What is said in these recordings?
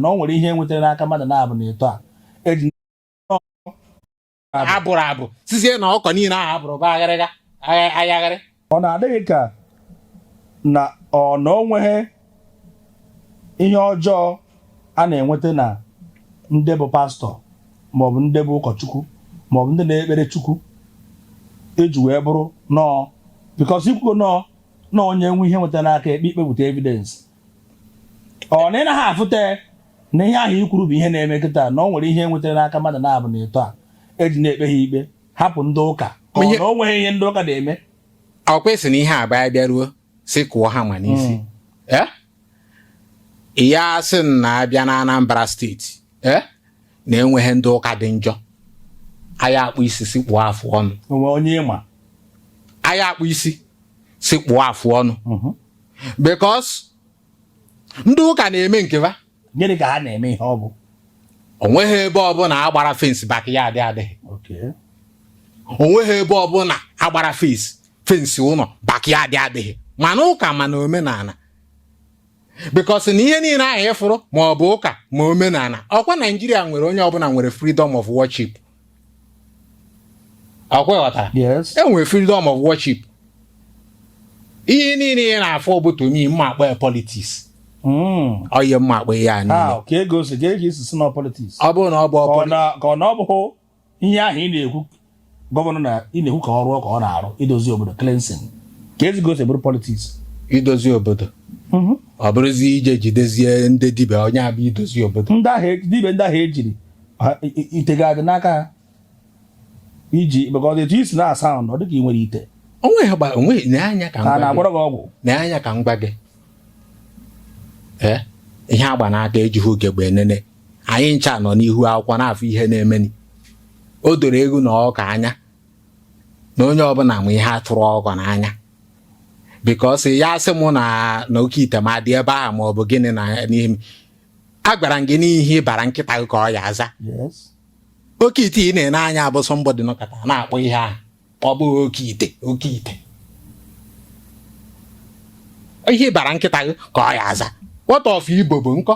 na o nwere ihe enwetara n'aka mmadụ na-abụ na etu a eji abụrụ abụ sizie na ọkọ niile ahụ abụrụ bụ agharịga ayagharị ọ na-adịghị ka na ọ na o nweghị ihe ọjọọ a na-enweta na ndị bụ pastor maọbụ ndị bụ ụkọchukwu maọbụ ndị na-ekpere chukwu eji wee bụrụ nọọ because ikwugo nọọ na onye nwe ihe enwetara n'aka ekpe ikpepụta evidence ọ na ị naghị afụta na ihe ahụ ikwuru bụ ihe na-eme kịta na o nwere ihe nwetara n'aka mmadụ na-abụ na etu a eji na-ekpe ha ikpe hapụ ndị ụka ka ọ na o nweghị ihe ndị ụka na-eme ọkwa a sị na ihe a bịa bịaruo si kụọ ha ma n'isi hmm. eh? ị ya-asị na abịa na Anambra state eh? na enweghị ndị ụka dị njọ a ya-akpụ isi si kpụọ afụ ọnụ o nwe onye ị ma a ya-akpụ isi si kpụọ afụ ọnụ mhm. because ndị ụka na-eme nke ha gịnị ka ha na-eme ihe ọ bụ onweghị ebe ọbụla agbara fence backyard adịghị onweghị ebe ọbụla agbara fence fence ụlọ backyard adịghị ma n'ụka ma n'omenala because na ihe niile ahụ ịfụrụ ma ọ bụ ụka ma omenala ọkwa naijiria nwere onye ọbụla nwere freedom of worship ọkwa ị ghọtara yes enwere freedom of worship ihe niile ị na-afụ bụ to me mma akpa ya politics Mm. ọ ihe mma akpa ihe a niile How? kee ka o si ka eji sị na politics ọ bụrụ na ọ bụ ka ọ ọ poli na- ka ọ na ọ bụghị ihe ahụ ị na-ekwu governor na ị na-ekwu ka ọ rụọ ka ọ na-arụ idozi obodo cleansing keezi ka o si bụrụ politics idozi obodo ọ bụrụzi ije jidezie ndị dibịa onye abịa idozi obodo ndị ahụ e- dibịa ndị ahụ ejiri ite ga-adị n'aka ha iji maka ọ dị etu i si na-asa ahụ na ọ dịka ị nwere ite onwe ya gba onwe n'anya ka ka m gwa gị na-agwọrọ gị ọgwụ n'anya ka m gwa gị ee ihe agba n'aka ejighị ugegbe enene anyị ncha nọ n'ihu akwụkwọ na-afụ ihe na-emeni o doro ewu na ọkụkọ anya na onye ọbụla ma ihe atụrụ ọkọ n'anya because ị ya-asị mụ na na oke ite ma dị ebe ahụ ma ọ bụ gịnị na n'ihe m agwara m gị na ihe ị bara nkịta gị ka ọ ya-aza oke ite ị na-ene anya ọ bụ somebody nọkata na-akpọ ihe ahụ ọ bụghị oke ite oke ite ihe ị bara nkịta gị ka ọ ya-aza what of ibobo nko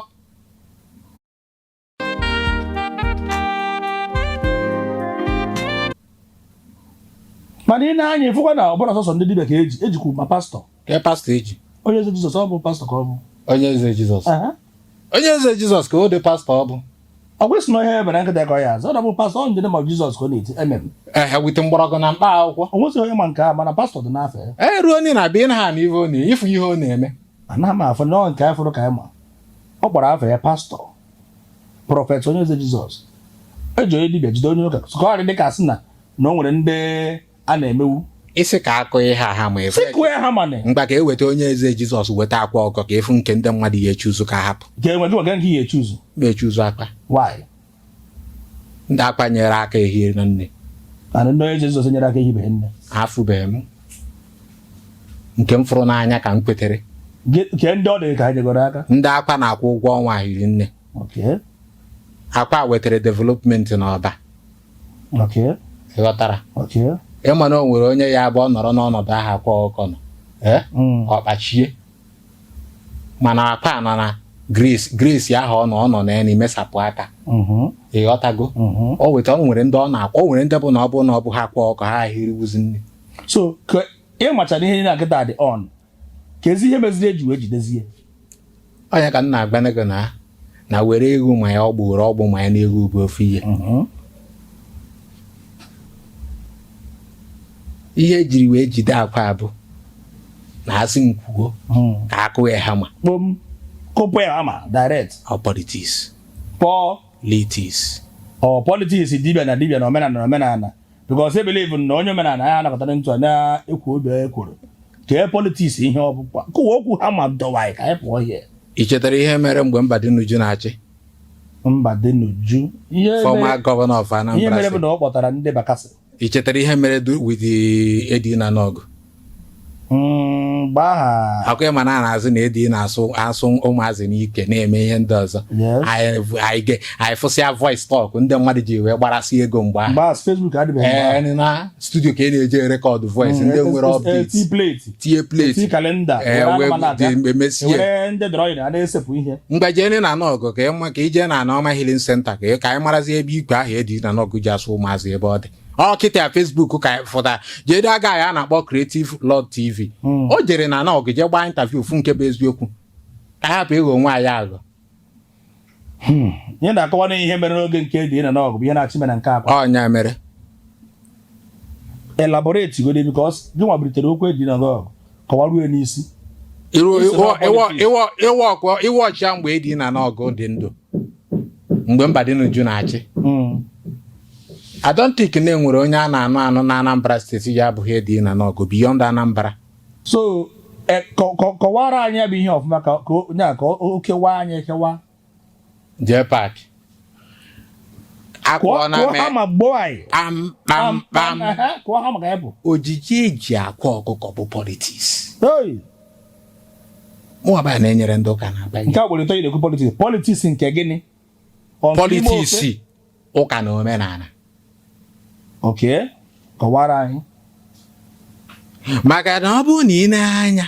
mana i nee anya ịfụkwa na ọ bụrọ sọsọ ndị dibịa ka eji ejikwu ma pastor ka e pastọ eji onye eze jizọs ọ bụ pastọ ka ọ bụ onye eze jizọs Aha. onye eze jizọs ka o dị pastọ ọ bụ ọ gwesị na ihe e bere nkịta ka ọ ya aza ọ na bụ pastọ ọ njede ma jizọs ka ọ na-eti emem ehe with mgbọrọgwụ na mkpa akwụkwọ o nwesịghị onye ma nke a mana pastọ dị n'afọ ya e ruo onye na-abịa ịna ha na ife ọ na-eme ịfụ ihe ọ na-eme anaghị m afọ nọọ nke afọrọ ka anyị ma ọ gbara afọ ya pastọ prọfet onye eze jizọs eji onye dibịa jide onye ụka ka ọ dị dịka sị na na o nwere ndị a na-emewu isi ka a kụọ ya hama efe si kụọ ya hama na mgba ka eweta onye eze jizọs weta Akwa Ọkụkọ ka a fụ nke ndị mmadụ ya echi ụzụ ka a hapụ ga-enwe gị nwaga nke ị ya echi ụzụ na-echi ụzụ Akwa why ndị Akwa nyere aka hiri nne mana ndị onye eze Jizọs nyere aka ehibeghị nne afụbeghị m nke m fụrụ n'anya ka m kwetere Gị- kee ndị ọ dị ka ha nyegoro aka ndị akwa na-akwụ ụgwọ ọnwa hiri nne Okay. akwa wetara development n'Ọba ịghọtara ịma na o nwere onye ya abụ ọ nọrọ n'ọnọdụ ahụ Akwa Ọkụkọ nọ mm. ọ kpachie mana Akwa nọ na grace grace ahụ ọ nọ ọ nọ na ya na-emesapụ aka mm-hmm. ịghọtago mm-hmm. o weta o nwere ndị ọ na-akwa o nwere ndị bụ na ọ bụ na ọ bụ ha Akwa Ọkụkọ ha ehiriwuzi nne so ị machara ihe na kịta dị on keezi ihe meziri eji wee jidezi ya ọ ya ka m na-agwanụ gị na na were egwu ma ya ọ bụ were ọgbụ ma ya na-ekwu bụ ofu ihe ihe ejiri wee jide Akwa bụ na a sị m kwuo ka a kụ ya hama kpom kụpụ ya hama direct ọ politiks politiks ọ politiks dibịa na dibịa na omenala na omenala because I believe na onye omenala ya anakọtara ntụ na-ekwu obi onye kwuru kee politiks ihe ọ bụkwa kụwa okwu hama dọwa anyị ka anyị pụọ ihe i chetara ihe mere mgbe Mbadinuju na-achị Mbadinuju ihe mere- former governor of ihe Anambra mere bụ State na ọ kpọtara ndị Bakassi i chetara ihe mere du- with the Eddy na Nawgu Mm, mgbe aha ọ kwa ịma na a na-asị na Eddy na-asụ asụ ụmụazị n'ikwe na-eme ihe ndị ọzọ Yes. anyị anyị ge- anyị fụsịa voice talk ndị mmadụ ji wee gbarasị ego mgbe ahụ mgbe aha Facebook adịbeghị mgbe aha. Ee, na studio ka ị na-eje rekọdụ voice ndị Mm, nwere eh, eh, update tii plate tie tii plate kalenda ee, were wee anụmanụ abịa. dị- emesie. were ndị drawing a na-esepụ ihe ngwa jeenụ na Nawgu ka ịma ka ije na Anioma healing center ka ị- ka anyị marazie ebe ikwe ahụ Eddy na Nawgu ji asụ ụmụazị ebe ọ dị ọ kịta ya Facebook ka fụta jede aga ya a na-akpọ Creative Lord TV o jere na Nawgu jee gbaa interview fụ nke bụ eziokwu ka a hapụ ịghọ onwe anyị aghọ ihe na-akọwa na ihe mere n'oge nke Eddy na Nawgu bụ ihe na-achị mere nke Akwa ọ ya mere elaborate godi because gị nwa bulitere okwu Eddy na Nawgu kọwarue n'isi ịwa ọchịa mgbe Eddy na Nawgu dị ndụ mgbe Mbadinuju na-achị hmm. I don't think na e nwere onye a na-anụ anụ na Anambra steeti ya abụghị Eddy na Nawgu beyond Anambra so e, kọwara anyị bụ ihe ọfụma ka onye a ka o kewa anyị ekewa jee paakị akụọ na mee ama gboo anyị kpamkpamkpam kụọ ha maka ya bụ ojiji eji akwa ọkụkọ bụ politiks mụaba na-enyere ndị ụka na abanye nke agbere tọnyere ekwu politiks politiks nke gịnị politiks ụka na omenala okay kọwara anyị maka na ọ bụrụ na i nee anya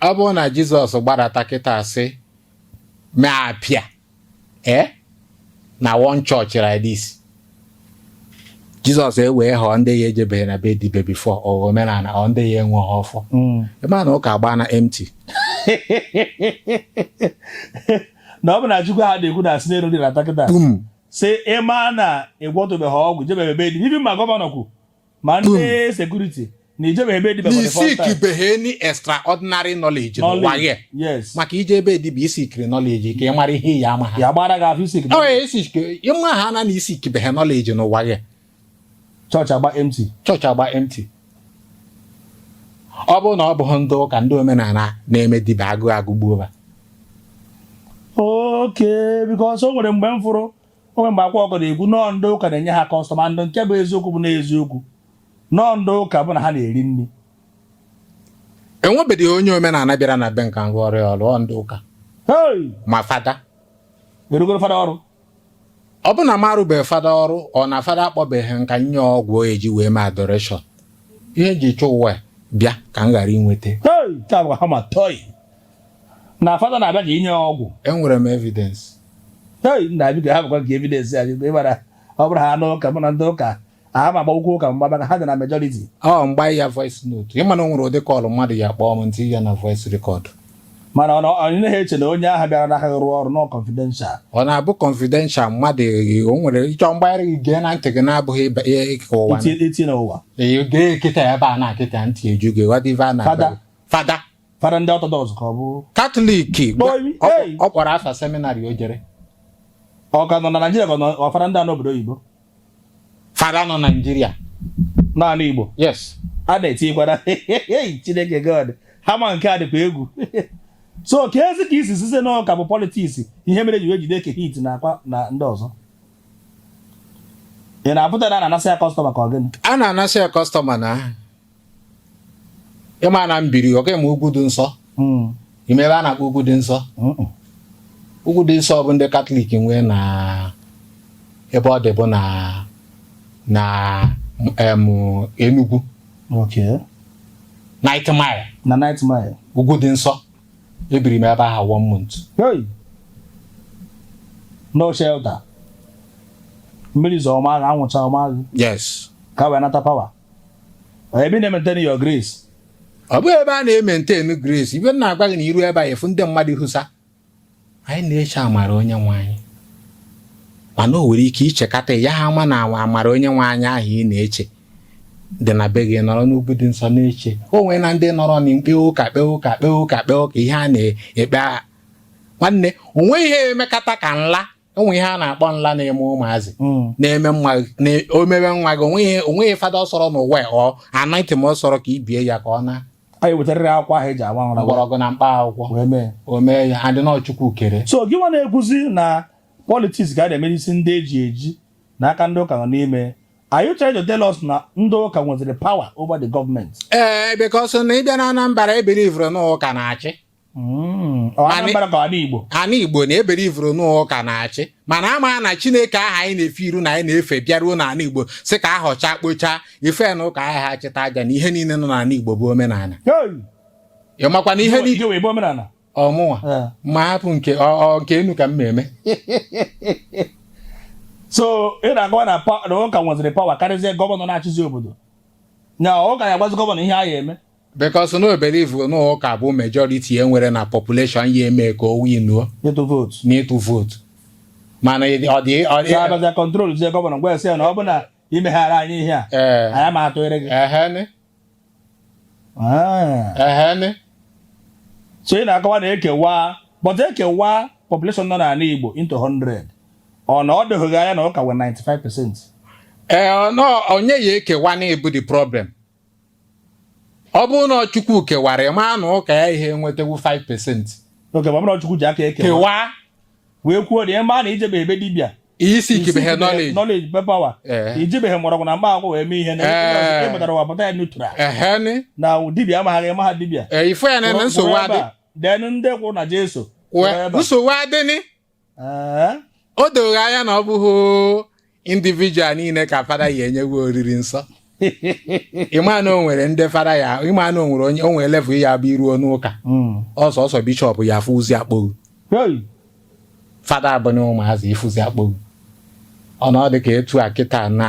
ọ bụrụ na jizọs gbadata kịta a sị mee appear ee na one church like this jizọs ewee họọ ndị ya ejebeghị na be dibe before ọ omenala ọ ndị ya enwe ha ọfọ Mm. ịma na ụka gbaa na empty na ọ bụ na chukwu ha na-ekwu na esi n'elu rịdata kịta bum sị ịma na ịgwọtụbeghị ọgwụ jebeghị be dibịa ma gọvanọ kwu ma ndị sekuriti na ijebeghị be dibịa for the first time. isikibeghe any extraordinary knowledge n'ụwa Knowledge, gị yes. maka ije ebe dibịa isikiri knowledge ka ị mara ihe iyi ama ha ya gbara gị afa isikiri Ọ isik- ịma ha na na isikibeghe knowledge n'ụwa gị chọọchị agba empty chọọchị agba empty ọ bụrụ na ọ bụghị ndị ụka ndị omenala na-eme dibịa agụụ agụgbuo ha okay because o nwere mgbe m fụrụ o nwe mgbe akwa ọkụkọ na-ekwu na ọ ndị ụka na-enye ha kọstọma ndị nke bụ eziokwu bụ n'eziokwu na ọ ndị ụka bụ na ha na-eri nri enwebeghị onye omenala bịara na be m ka ngwa ọrụ ọrụ ndị ụka ma fada arụgoro fada ọrụ ọ bụ na m arụbeghị fada ọrụ ọ na fada akpọbeghị m ka m nye ọgwụ eji wee mee adoration ihe eji chụ ụwa bịa ka m ghara inweta na fada na-abịa ka e nye ya ọgwụ enwere m evidence hei nna biko ha bụkwa nke evidence ya biko ịmara ọ bụrụ ha anụ ụka mụ na ndị ụka aha ma agbawụkwọ ụka mgba maka ha dị na majority ọ m gbanye ya voice note ịma na o nwere ụdị call mmadụ ya kpọọ m m tinye ya na voice record mana ọ na- ọ naghị eche na onye ahụ bịara n'aka gị rụọ ọrụ na ọ confidential ọ na-abụ confidential mmadụ eh, o nwere ịchọ mgbagharị gị gee na ntị gị na-abụghị ịba- ihe ịka ụwa na- iti iti n'ụwa Eh, gee kịta ebe a na-akịta ntị eju gị ghọta ife a na-agwa Fada. gị. fada fada ndị orthodox ka ọ bụ katọlik ọ kpọrọ afa seminarị o jere ọ ka nọ na naijiria ka ọ fada ndị a n'obodo oyibo fada nọ naijiria n'anị igbo yes a na-etinyekwara chineke god ha ma nke a dịkwa egwu so keezi ka isi sịzi na ọ ka bụ politiks ihe mere e ji wee jide eke hit na akwa na ndị ọzọ ị na-apụta na a na-anasị ya kọstọma ka ọ gịnị a na-anasị ya kọstọma na ịma na m biri okay ị ma ugwu dị nsọ hmm. ị ma ebe a na-akpọ ugwu dị nsọ ugwu dị nsọ bụ ndị katọlik nwee na ebe ọ dị bụ na na Enugu Ninth Mile na Ninth Mile ugwu dị nsọ ebiri m ebe ahụ one month no shelter mmiri zoo ọ maa ghị anwụ chaa ọ maa ghị yes ka wee nata power ebe na-maintain your grace ọ bụghị ebe a na-maintain grace ibe na-agwa gị na i ru ebe a ị fụ ndị mmadụ hụsa anyị na-eche amara onye nwe anyị mana o nwere ike i chekata ya ha ama na amara onye nwe anyị ahụ ị na-eche dị na be gị nọrọ n'ugwu dị nsọ na-eche o nwee na ndị nọrọ na mkpe ụka kpee ụka kpee ụka kpee ụka ihe a na-ekpe aha nwanne o nweghị ihe emekata ka nla o nwe ihe a na-akpọ nla na-eme ụmụazị hmm. na-eme nwa o mewe nwa gị onweghị fada ọ sọrọ n'ụwa ọ anaghị ma ọ sọrọ ka ibie ya aka ọ naa anyị wetarịrị akwụkwọ ahụ eji agba nra mgbọrọgwụ na mkpa akwụkwọ o mee ya adị n'ọ Chukwu kere so gị nwa na-ekwuzi na politics ga na-eme isi ndị eji eji na aka ndị ụka nọ n'ime Are you trying to tell us na ndị ụka nweziri power over the government? Ee, eh, because na ị bịa na Anambra e believe-uru na ụka na-achị Anambra ka ana Igbo ana Igbo na e believe-uru n'ụka na-achị mana ama na Chineke aha anyị na-efe iru na anyị na-efe bịaruo n'ana Igbo sị ka a họchaa kpochaa ife na ụka aha ha chịta aja na ihe niile nọ n'ala Igbo bụ omenala ị makwa na ihe niile ọ mụnwa ma hapụ nke nke enu ka m na-eme so ị na-agwa na ụka nweziri power karịzie gọvanọ na-achịzi obodo na ụka ya agwazi gọvanọ ihe a ya eme because na o believe na ọ ụka bụ majority e nwere na population ya eme ka o winuo ịtụ vootu n'ịtụ vootu mana ị- ọ dị ọ dị abịazia control zie gọvanọ gwa ya sị ya na ọ bụ na i meghara anyị ihe a ee anyị ma atụnyere gị ehen Ah. ehen so ị na-akọwa na ekewa but ekewa population nọ n'ala igbo into 100 ọ na ọ dịghị anya na ụka nwee 95 percent ee ọ nọ- onye ya-ekewanụ bụ the problem ọ bụrụ na Chukwu kewara ị maa na ụka yaghị enwetawu 5 percent okay ma ọ bụrụ na Chukwu ji aka ekewa kewaa wee kwuo na ị ma na i jebe ebe dibịa isi ikibehe knowledge knowledge power Ee. ijibeghị mgbọrọgwụ na mkpa akwụkwọ wee mee ihe na Ee. ị pụtara ụwa pụta ya neutral ehen na dibịa amagha gị ị maha dibịa ee, ị fụ ya na nsogbu adị then ndị kwụ na Jesu kwụrụ Wee- ebe a. nsogbu adịnị o doghị anya na ọ bụghị individual niile ka fada ya enyewe oriri nsọ ịma na o nwere ndị fada ya ịma na o nwere onye o nwere level ya-abụ i ruo n'ụka ọ sọọsọ bishọp ya-afụzi akpo gị fada abụ na ụmụazị ịfụzi akpo gị ọ na ọ dị ka etu a kịta na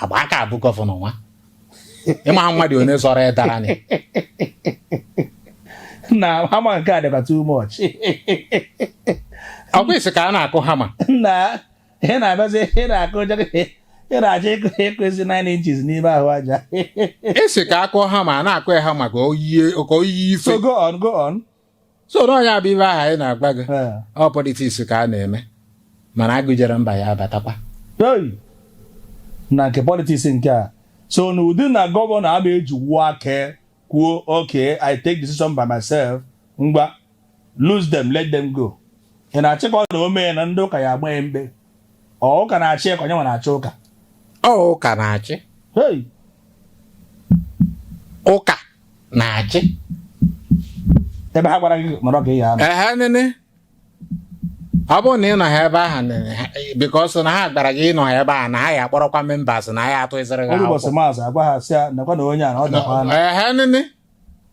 agba aka abụ gọvanọ nwa ịma mmadụ onye zọrọ ya dara anyị na hama nke a adịkwa too much ọ kwa isi ka a na-akụ hama na ị na-abịazi ị na-akụ ụjọ ị na-achọ ịkụ ịkụwezi 9 inches n'ime ahụ aja esi ka a kụ hama a na-akụ ya hama ka o yie ka o yie ife so go on go on so na ọ nya bụ ife ahụ anyị na-agwa gị Ee. ọ politiks ka a na-eme mana agụ jere mba ya abatakwa Hey! na nke politiks nke a so na ụdị na gọvanọ ama ejinwu aka kwuo okay i take decision by myself ngwa loose them let them go ị na-achịkọ na o mee na ndị ụka ya agba ya mkpe ọ ụka na-achị ya ka ọ nya nwa na-achị ụka ọ ụka na-achị hey! ụka na-achị ebe ha gwara gị nọrọ ka ị ya anọ ehe nene ọ bụrụ na ị nọha ebe ahụ nene because na ha gwara gị ị nọha ebe ahụ na ha ya akpọrọkwa members na ha ya atụzịrị gị ọrụ ụbọchị akwụkwọ maazị agwa ha sị ya nakwa na onye a na ọ dakwa anọ ehe nene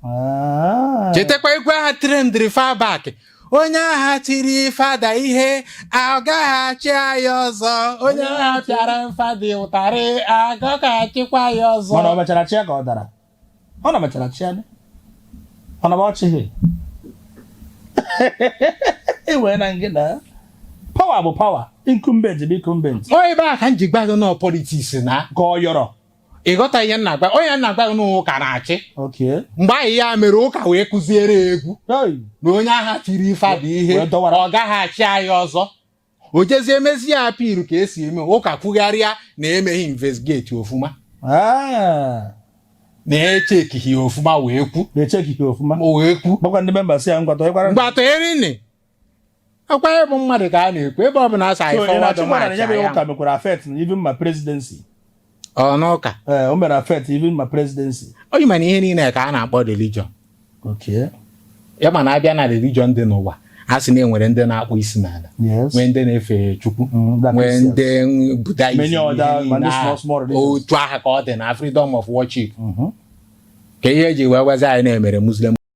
Ah. chetakwa ukwe aha trendiri far back onye aha tiri fada ihe agaghị achị anyị ọzọ onye aha pịara fada ụtarị agaghị achịkwa anyị ọzọ mana o mechara chịa ka ọ dara ọ na mechara chịa ya ọ na ọ chịghị ewee na ngị na power bụ power incumbent bụ incumbent ọ ebe a ka m ji gwa gị na ọ politiks na ka ọ yọrọ ịghọta ihe m na-agwa ọ nya m na-agwa gị na ụka na-achị Okay. mgbe anyị ya mere ụka wee kụziere ya egwu Hey. na onye aha tiri fada ihe Wee dọwara. ọ gaghị achị anyị ọzọ o jezie emezie appeal ka e si eme ụka kwugharịa na emeghị investigate ọfụma ah. na-echekighị ọfụma wee kwu na-echekighị ọfụma wee kwu gwakwa ndị member sị ya ngwatọ ịkwara ngwatọ erinne akwa ịbụ mmadụ ka a na-ekwu ebe ọ bụla a sị anyị forward march ya ụka mekwara affect na even my presidency ọ n'ụka ee o mere affect even my presidency onye mana ihe niile ka a na-akpọ religion okay ya mana a bịa na religion dị n'ụwa a sị na e nwere ndị na-akpụ isi n'ala yes nwee ndị na-efe chukwu Mm, that nwee makes ndị sense. Buddhism Many other- ihe niile many small, ahụ. small religions. otu aha ka ọ dị na freedom of worship Mhm. kee ihe e ji wee gwazi anyị na-emere muslim